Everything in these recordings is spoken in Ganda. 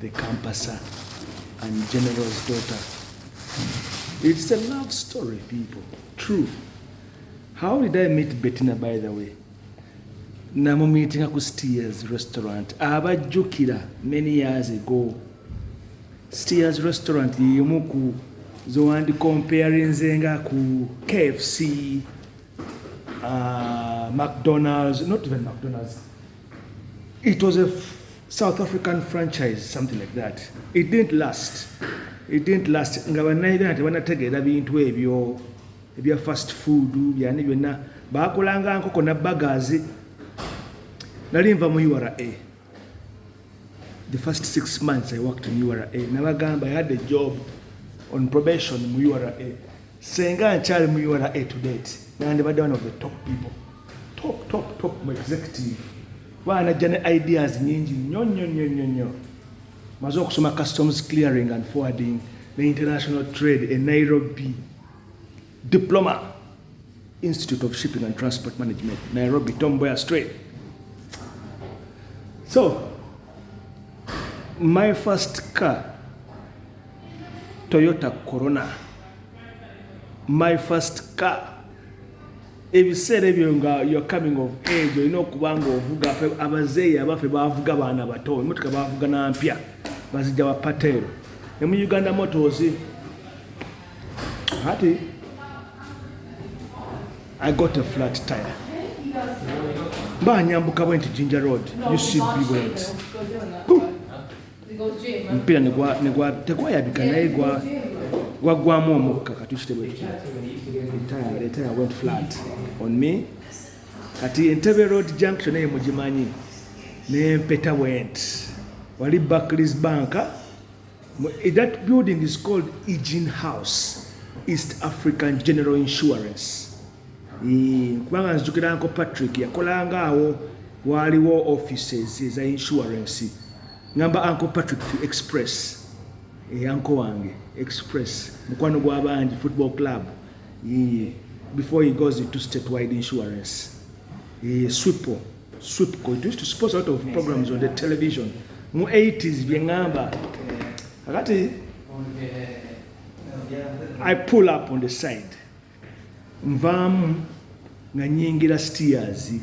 The Kampasa and General's daughter. It's a love story, people. True. How did I meet Bettina, by the way? namumiitinga ku steers restaurant abajjukira many years ago steers restaurant yemu ku zowandi comparinzenga ku kfc uh, mcdonalds not even mcdonalds It was a South African franchise, something like that. It didn't last. It didn't last. Nga bannayuganda tebanategeera bintu ebyo ebya fast food byani byonna baakolanga nkoko na bagazi nali nva mu ura the first six months i worked in ura nabagamba i had a job on probation mu ura senga nkyali mu ura to date nandibadde one of the top people top top top mu executive baana ajja ne ideas nyingi nnyo nnyo nnyo nnyo nnyo maze okusoma customs clearing and forwarding ne international trade e nairobi diploma institute of shipping and transport management nairobi tom boyer straight so my first car toyota corona my first car ebiseera ebyo nga your coming of age olina okuba nga ovuga abazeeyi abaffe bavuga baana bato emotoka bavuga na mpya bazijja ba pateero ne mu uganda motos ati i got a flat tire mba nyambuka bwe nti ginger road ucb bwenti omupiira tegwayabika naye gwaggwamu omukka kati kitebwentire went flat on me kati entebe road junction eyo mugimanyi nempeta went wali barclays bank eh, that building is called egin house east african general insurance kubanga nzijukira nko patrick yakolanga awo waaliwo offices eza insurance ngamba anko patrick express eyanko eh, wange express mukwano gwabangi football club eh, before he goes into statewide insurance eh, swipo swipco it used to suppose out of programs on the television mu 80s byengamba akati i pull up on the side nvaamu nga nyingira stiyazi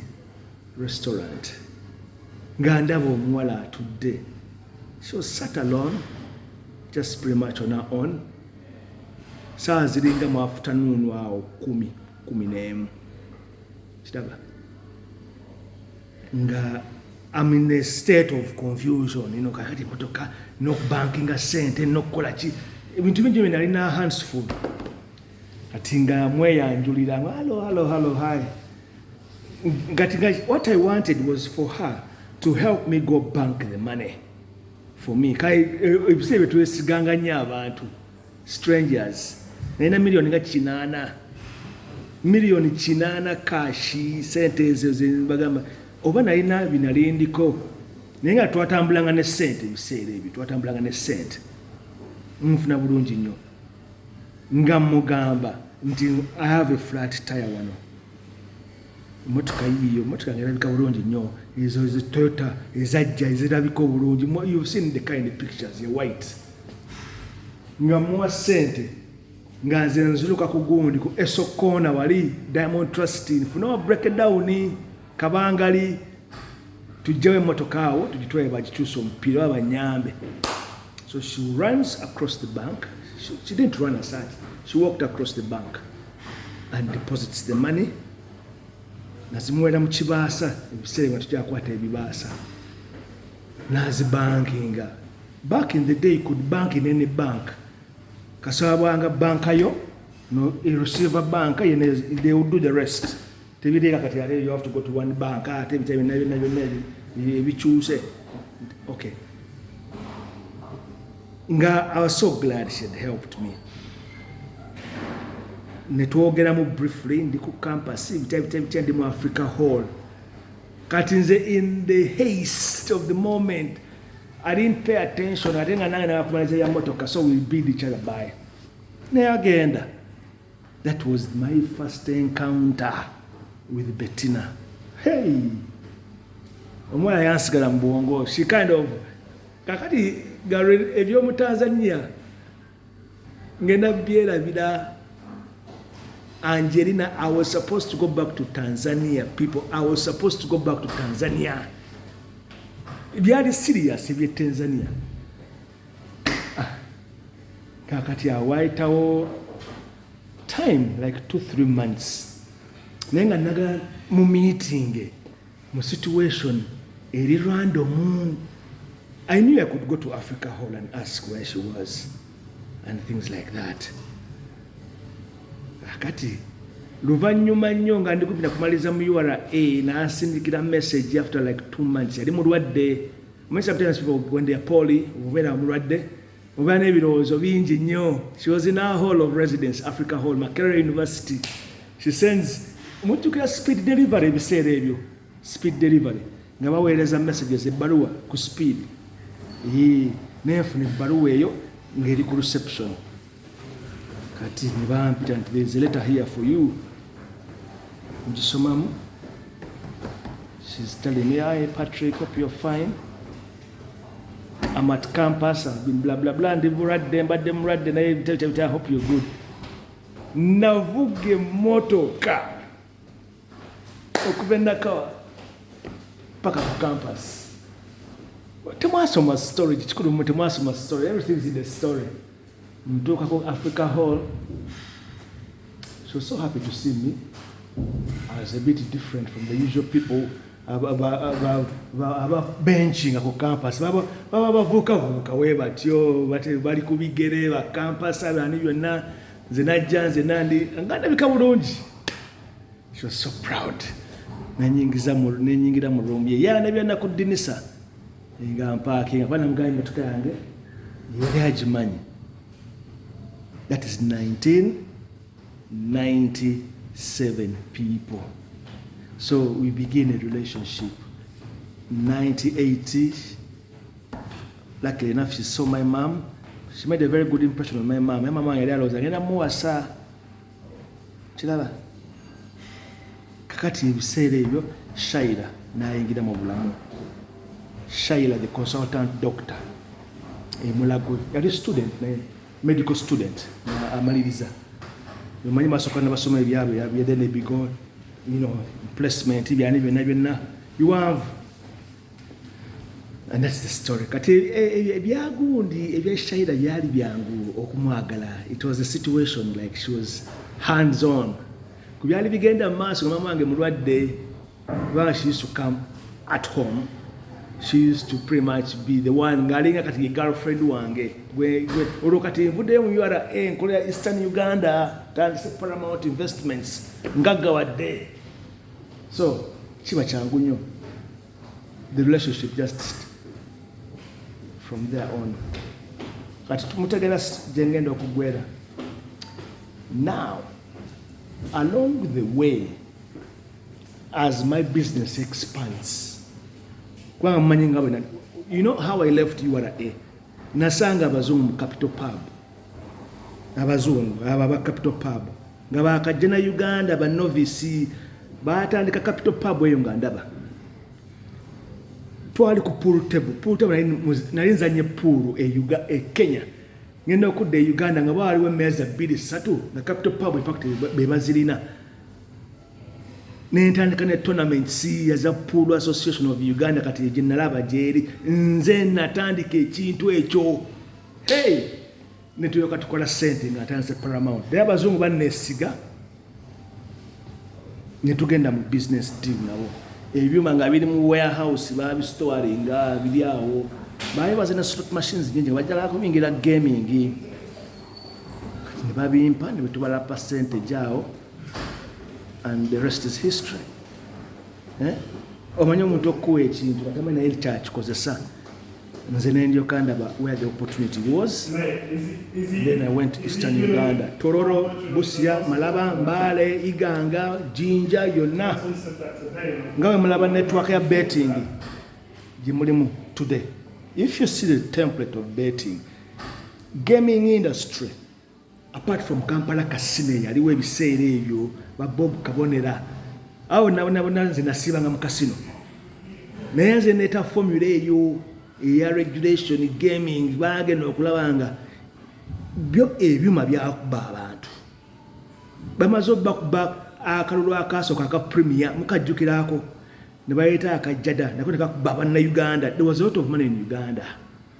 restaurant nga ndaba omuwala atudde so sat alone just pretty much on our own saawa ziringa mu afutanuunu awo kumi kumi n'emu kiraba nga am in a state of confusion ino kakati motoka nokubankinga sente nokukola ki ebintu bingi byenalina handsful kati nga mweyanjulira halo halo halo hi kati nga what i wanted was for her to help me go bank the money for me kai eh, ebiseera byetwesiganga nnyo abantu strangers nalina miliyoni nga kinaana miliyoni kinaana kashi sente ezo zebagamba oba nalina binalindiko naye nga twatambulanga ne sente ebiseera ebyo twatambulanga ne sente nfuna bulungi nnyo nga mugamba nti i have a flat tire wano emotoka yiyo emotoka nga erabika bulungi nnyo ezo ezitoyota ezajja ezirabika obulungi you've seen the kind of pictures e white nga muwa sente nga nze nziruka ku gundi ku esokoona wali diamond trust nfuna wa breakdown kabangali tujjawo emmotoka awo tugitwale bagikyusa omupiira oba banyambe so she runs across the bank she, she didn't run aside she walked across the bank and deposits the money nazimuwera mu kibaasa ebiseera nga tujakwata ebibaasa nazibankinga back in the day could bank in any bank kasabwanga banka yo no receiver banka yene they will do the rest tebiteeka kati ate you have to go to one bank ah, ate ebitabo byonna byonna byonna ebikyuse okay nga i was so glad she had helped me netwogeramu briefly ndi ku campus ebitabo bitabo bitya ndi mu africa hall kati nze in the haste of the moment i didn't pay attention ate nga nange nabakumaliza ya motoka so we bid each other by naye agenda That was my first encounter with Bettina. Hey! Omwana yansigala mu bwongo. She kind of kakati galwe eby'omu Tanzania ngenda byerabira Angelina, I was supposed to go back to Tanzania. People, I was supposed to go back to Tanzania. Byali serious ebye Tanzania. kakati awo wayitawo time like two three months naye nga nagala mu meeting mu situation eri random i knew i could go to africa hall and ask where she was and things like that akati luvannyuma nnyo nga ndikupita kumaliza mu ura nasindikira message after like two months yali mulwadde Many sometimes people, when they are poorly, when I'm ready, obeera n'ebirowoozo bingi nnyo she was in our hall of residence africa hall makerere university she sends mujjukira speed delivery ebiseera ebyo speed delivery nga baweereza messages ebbaluwa ku speed nenfuna ebbaluwa eyo ng'eri ku reception kati nebampita nti there is a letter here for you ngisomamu she's telling me I Patrick hope you're fine I'm at campus I've been blah blah blah ndi bulwadde mbadde mulwadde naye bitebitebite I hope you're good navuga emmotoka okuva enakawa paka ku campus temwasoma story kikulu mwe temwasoma story everything is in the story Mtuka kwa Africa Hall. So so happy to see me. I was a bit different from the usual people aba benchinga ku campus baba bavuukavuuka we batyo bali ku bigere ba campus abani byonna nze najja nze nandi nga ndabika bulungi she was so proud nenyingira mu room ye yandabya nakuddinisa nga mpaakinga kuba namugaye emmotoka yange yali agimanyi that is 1997 people so we begin a relationship 98 luckily enough she saw my mom she made a very good impression on my mom my mom yali alowooza ngenda muwasa kiraba kakati ebiseera ebyo shaira nayingira mu bulamu shaira the consultant doctor emulago yali student naye medical student amaliriza omanyi basoka nabasoma ebyabo yabyedenebigo placement byani byonna byonna biwanvu And that's the story. Kati e, e, e, ebyagundi ebya Shaira byali byangu okumwagala. It was a situation like she was hands on. Ku byali bigenda mu maaso mama wange mulwadde kubanga she used to come at home. She used to pretty much be the one ngalinga kati ye girlfriend wange. Gwe gwe olwo kati nvudde mu URA nkolera Eastern Uganda tandise Paramount Investments ngaggawadde. so kiba kyangu nnyo the relationship just from there on kati tumutegera gyengenda okugwera now along the way as my business expands kubanga mumanyi nga bwena you know how i left ura nasanga abazungu mu capital pub abazungu abo aba capital pub nga bakajja na uganda banovisi batandika capital pub eyo nga ndaba twali ku pool table pool table nali nzanye pool e, e kenya ngenda okudda e uganda nga bawaliwo emeeza bbiri satu nga capital pub infact bebazirina nentandika ne tournament siya za pool association of uganda kati gyenalaba gyeri nze natandika ekintu ekyo hey netuyoka tukola sente nga atandise paramount naye abazungu banesiga netugenda mu business deal nabo ebyuma nga biri mu warehouse babistoringa biri awo baali bazina slot machines nyingi bajjala kubingira gaming nebabimpa nebetubala percentage awo and the rest is history eh? omanyi omuntu okukuwa ekintu atamanyi naye kyakikozesa nze nendyoka ndaba where the opportunity was then i went eastern uganda tororo busia malaba mbale iganga jinja yonna nga we mulaba network ya betting gyemulimu today if you see the template of betting gaming industry apart from kampala kasino eyaliwo ebiseera ebyo babob kabonera awo nabonabona nze nasiibanga mu kasino naye nze neeta formula eyo eya regulation gaming bagenda okulaba nga byo ebyuma byakuba abantu bamaze obakuba akalulu akasooka aka premier mukajjukiraako ne baleeta akajjada nako nekakuba banna uganda there was a lot of money in uganda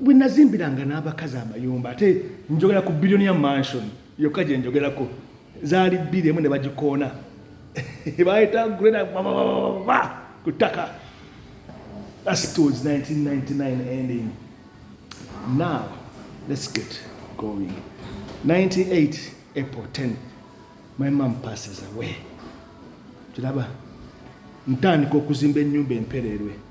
bwe nazimbiranga n'abakazi amayumba ate njogera ku billioni ya mansion yokka gye njogerako zaali bbiri emu ne bagikoona bayita greda babababa ku ttaka that was 1999 ending now let's get going 98 april 10 my mom passes away kiraba ntandika okuzimba ennyumba empereerwe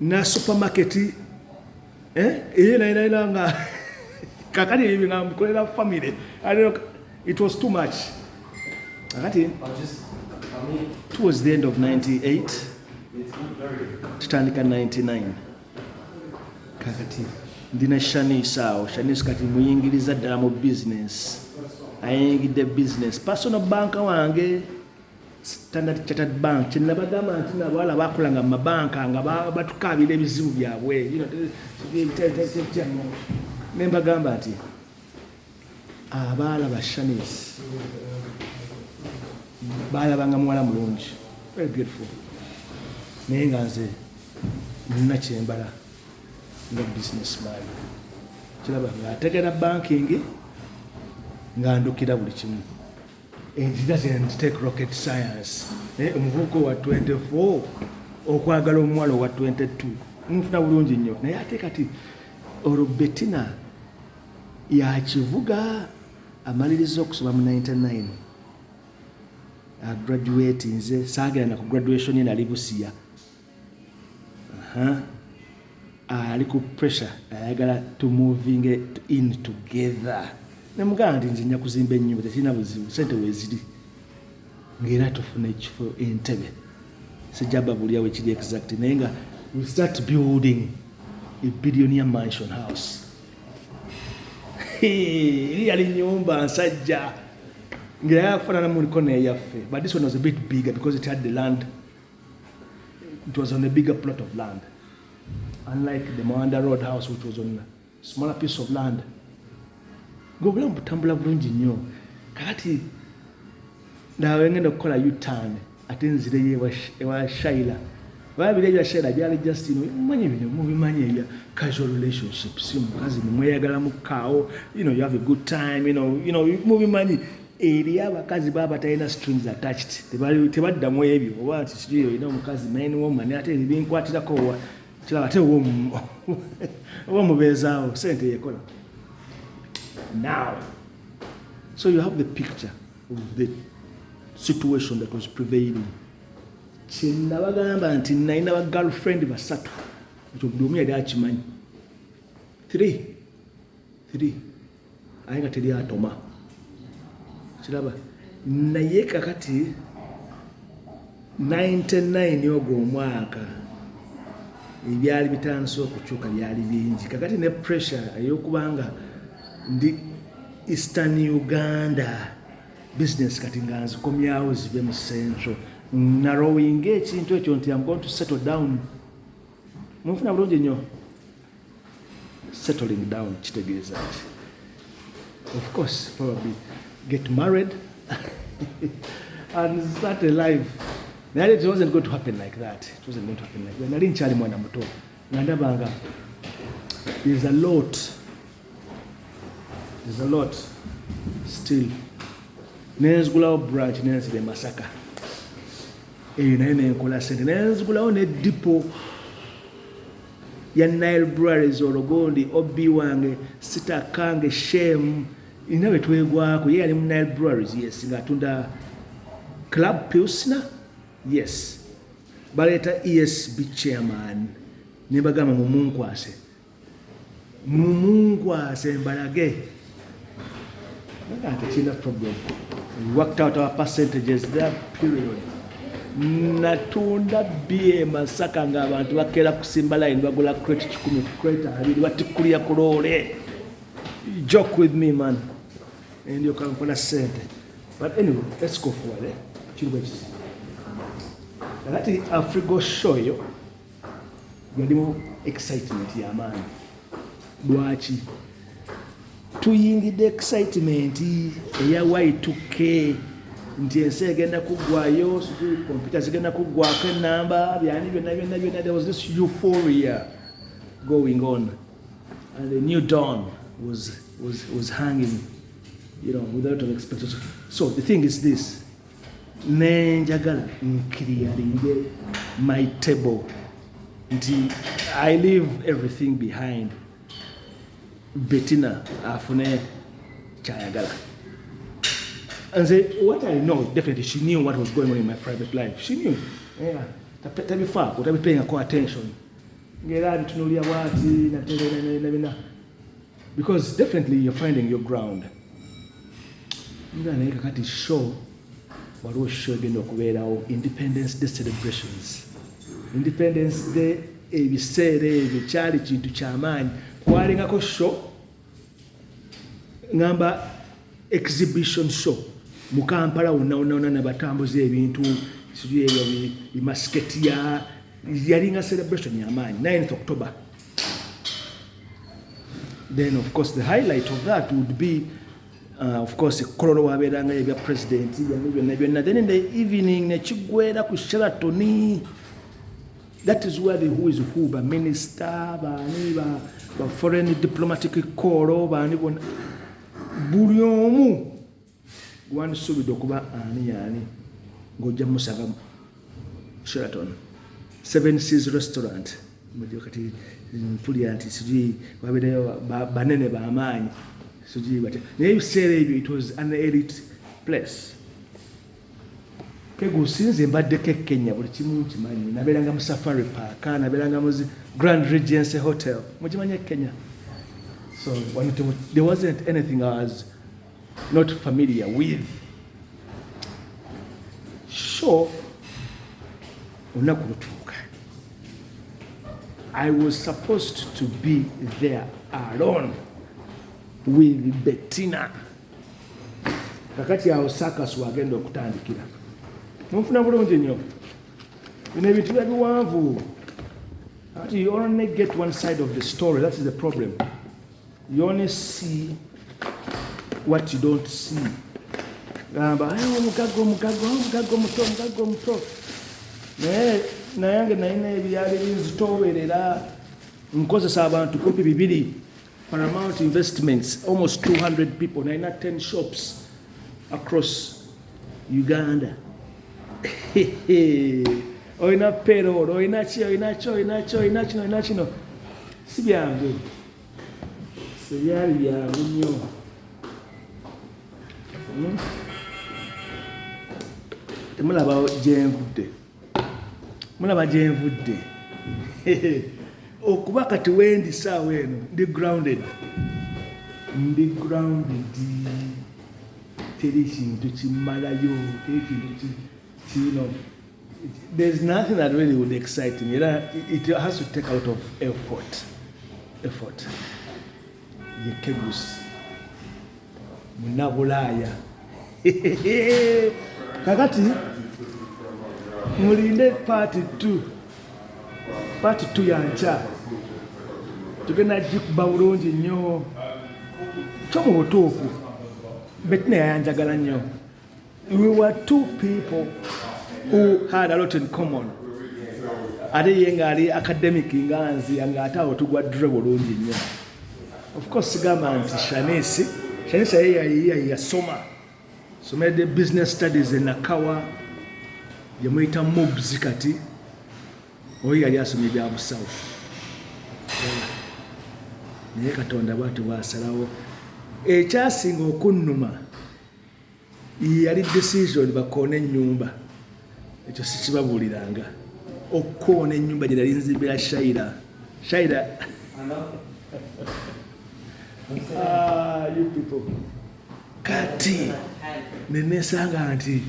na supermarket eh eye na ina ina nga kakati hivi na mkolela family i don't know it was too much kakati towards the end of 98 tutandika 99 kakati ndina shanice awo shanice kati muyingiriza ddala mu business ayingidde business personal banka wange Standard Chartered Bank kyenabagamba nti nabo ala bakola nga mabanka nga batukaabira ebizibu byabwe ne mbagamba nti abaala ba Shanis baalabanga muwala mulungi very beautiful naye nga nze nina kyembala nga business man kiraba nga ategera banking nga ndukira buli kimu omuvubuka owa 24 okwagala omuwala owa 22 mufuna bulungi nnyo naye ate kati olwo betina yakivuga amaliriza okusoma mu 99 agraduate nze saagenda na ku graduation ye nali busiya ali ku pressure ayagala to moving in together nemugamba nti nze nja kuzimba ennyumba tekirina buzibu sente weziri ngaera tufuna ekifo entebe sijaba bulya wekiri exact naye nga we start building a billionia mansion house eri yali nyumba nsajja ngaera yafanana muliko neyaffe but this one was a bit bigger because it had the land It was on a bigger plot of land. Unlike the Moanda Road house which was on a smaller piece of land. Ngobulamu butambula bulungi nnyo. Kakati nawe ngenda okukola U-turn ate nzireyo ewa Shaila. Babira ebya Shaila byali just you know, mmanyi bino mubimanyi ebya casual relationships mukazi mumweyagala mu kaawo you know you have a good time you know, you know mubimanyi eri abakazi baba batalina strings attached tebadda mu ebyo oba nti situyo olina omukazi main woman ate binkwatirako owa kiraba ate oba mubeezaawo sente yekola now so you have the picture of the situation that was prevailing kyenabagamba nti nalina ba girlfriend basatu ekyo buli omu yali akimanyi three three aye nga teri atoma kiraba naye kakati 99 ogwo omwaka ebyali bitandise okukyuka byali bingi kakati ne pressure eyokubanga ndi eastern uganda business kati nga nzikomyawo zibe mu central narowinga ekintu ekyo nti am going to settle down munfuna bulungi nnyo settling down kitegeeza ki of course probably get married and start a life naye it wasn't going to happen like that it wasn't going to happen like that nali nkyali mwana muto nga ndabanga there's a lot There's a lot still nenzigulawo branch nenzira emasaka eyo naye nenkola sente nenzigulawo ne dipo ya nile breweries ologondi ob wange sitakange shame ina betwegwako ye yali mu nile breweries yes nga atunda club pilsner yes baleeta esb chairman nebagamba mumunkwase mumunkwase mbalage nagante kirina problem worked out our percentages there period natunda bye masaka nga abantu bakera kusimba line bagula crate kikumi crate abiri batikulira ku loole joke with me man endyoka nkola sente but anyway let's go forward eh? kiriwo ekisa kakati afrigo show yo yalimu excitement yamaanyi lwaki tuyingidde excitement eya y2k nti ensi egenda kuggwayo kompyuta zigenda kuggwako enamba byani byonna byonna byonna there was this euphoria going on and the new dawn was, was, was hanging you know, without an expectation so the thing is this ne njagala nkiriyalinge my table nti i leave everything behind betina afune kyayagala nze what i know definitely she knew what was going on in my private life she knew yeah. tabifaako tabipeyingako attention ngaera bitunulya bwati nabina because definitely you're finding your ground nga naye kakati show waliwo show egenda okubeerawo independence day celebrations independence day ebiseera ebyo kyali kintu kyamaanyi kwalingako show ngamba exhibition show mu kampala wonna wonna wonna nabatambuza ebintu siri ebyo bimasiketiya yalinga celebration yamaanyi 9 october then of course the highlight of that would be uh, of course kololo wabeeranga ebya president byamu byonna byonna then in the evening nekiggwera ku sheratoni that is where the who is who ba minister baani ba, ba foreign diplomatic call baani bona buli omu gwandisuubidde okuba ani yaani ng'ojja musanga sheraton seven seas restaurant mujo kati mpulira nti sijui wabeereyo banene bamaanyi sijui batya naye ebiseera ebyo it was an elite place kegusinze mbadde kekenya buli kimu nkimanyi nabeeranga mu safari park nabeeranga mu grand regency hotel mukimanyi ekenya so there wasn't anything as not familiar with so olunaku lutuuka i was supposed to be there alone with bettina kakati awo sakas wagenda okutandikira munfuna bulungi nnyo bino ebintu bya biwanvu kakati you only get one side of the story that is the problem You only see what you don't see. Gamba ayo omugago omugago omugago muto omugago muto naye nayange nalina ebyali binzitoowerera nkozesa abantu kumpi bibiri paramount investments almost 200 people nalina 10 shops across uganda olina payroll olina ki olina ki olina ki olina kino olina kino si byangu Sebyali byangu nnyo. Hmm? Temulaba gyenvudde, mulaba gyenvudde okuba kati wendi saawa eno ndi grounded, ndi grounded, teri kintu kimalayo, teri kintu kino There's nothing that really would excite me. It has to take a lot of effort. Effort. Yekegusi. Munabulaya. Kakati mulinde part 2. Part 2 ya ncha. Tugenda jikuba bulungi nnyo. Kyo mu butuufu. Betina yayanjagala nnyo. we were two people who had a lot in common ate ye ngaali academic nga nzi nga ate awo tugwa dre bulungi nnyo of course sigamba nti shanisi shanisi aye yasoma somede business studies enakawa yemuyita mobs kati oyo yali asomye byabusawo naye katonda bwati bwasalawo ekyasinga okunnuma yali decision bakoona ennyumba ekyo sikibabuuliranga okukoona ennyumba gye nali nzimbira shaira shaira ah, kati nenesanga nti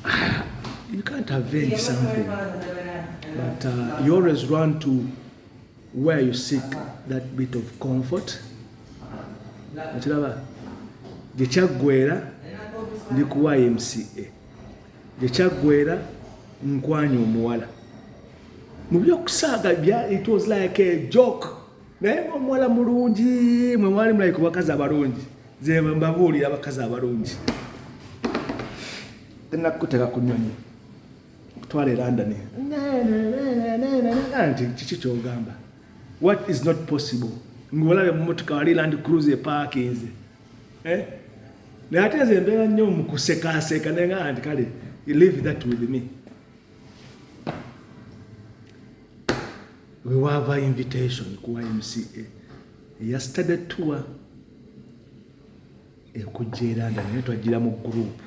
ah, you can't avenge something but uh, you always run to where you seek that bit of comfort okiraba gye kyaggwera ndi ku ymca gye kyaggwera nkwanya omuwala mu byokusaaga it was like a joke naye ngaomuwala mulungi mwe mwali mulai ku bakazi abalungi zembabuulira abakazi abalungi tenakuteka ku nyonyi twala elandani nti kiki kyogamba what is not possible ngolabye mumotoka wali land cruise epakinze eh? naye ate nze mbeera nnyo mukusekaseeka naye nga nti kale live that with me wewaava invitation ku ymca eya study tour ekujja eranda naye twajjira mu gurupu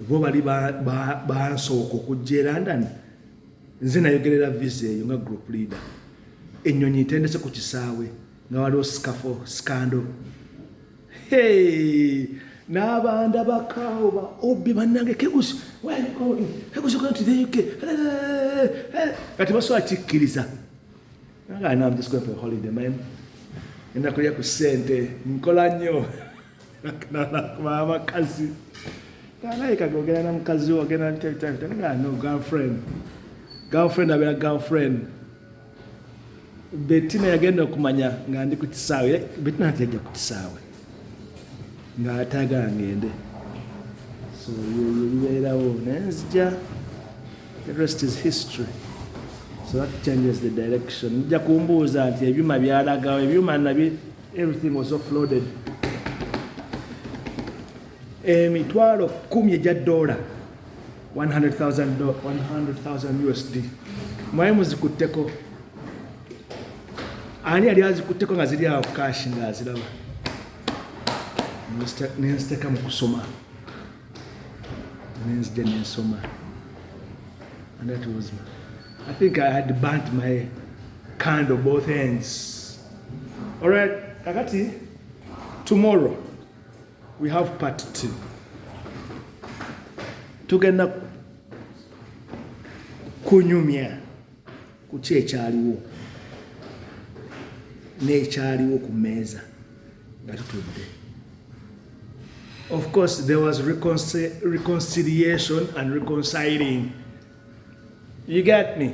bo bali bansooka okujja e london nze nayogerera visa eyo nga group leader enyonyi ntendese ku kisaawe nga waliwo sikafo sikando n'abanda bakaawo ba obi bannange kegusi kegusi kati the uk kati basobola kikkiriza nga anam just going for a holiday man enakulya ku ssente nkola nnyo abakazi nalabika gogera na mukazi wo ogenda no girlfriend girlfriend abeera girlfriend betina yagenda okumanya nga ndi ku kisaawe eh, betina nti yajja ku kisaawe nga atagala ngende so yebibeerawo naye nzija the rest is history so that changes the direction nja kumbuuza nti ebyuma byalagawo ebyuma nabi Everything was offloaded. Emitwalo eh, kumi egya dola 100,000 USD mwaye muzikutteko ani yali azikutteko nga ziri awo kashi nga aziraba nenziteka mu kusoma nenzija nensoma and that was I think I had burnt my candle both ends Alright, kakati tomorrow we have part 2. Tugenda kunyumya ku ki ekyaliwo n'ekyaliwo ku mmeeza nga tutudde of course there was reconci reconciliation and reconciling you get me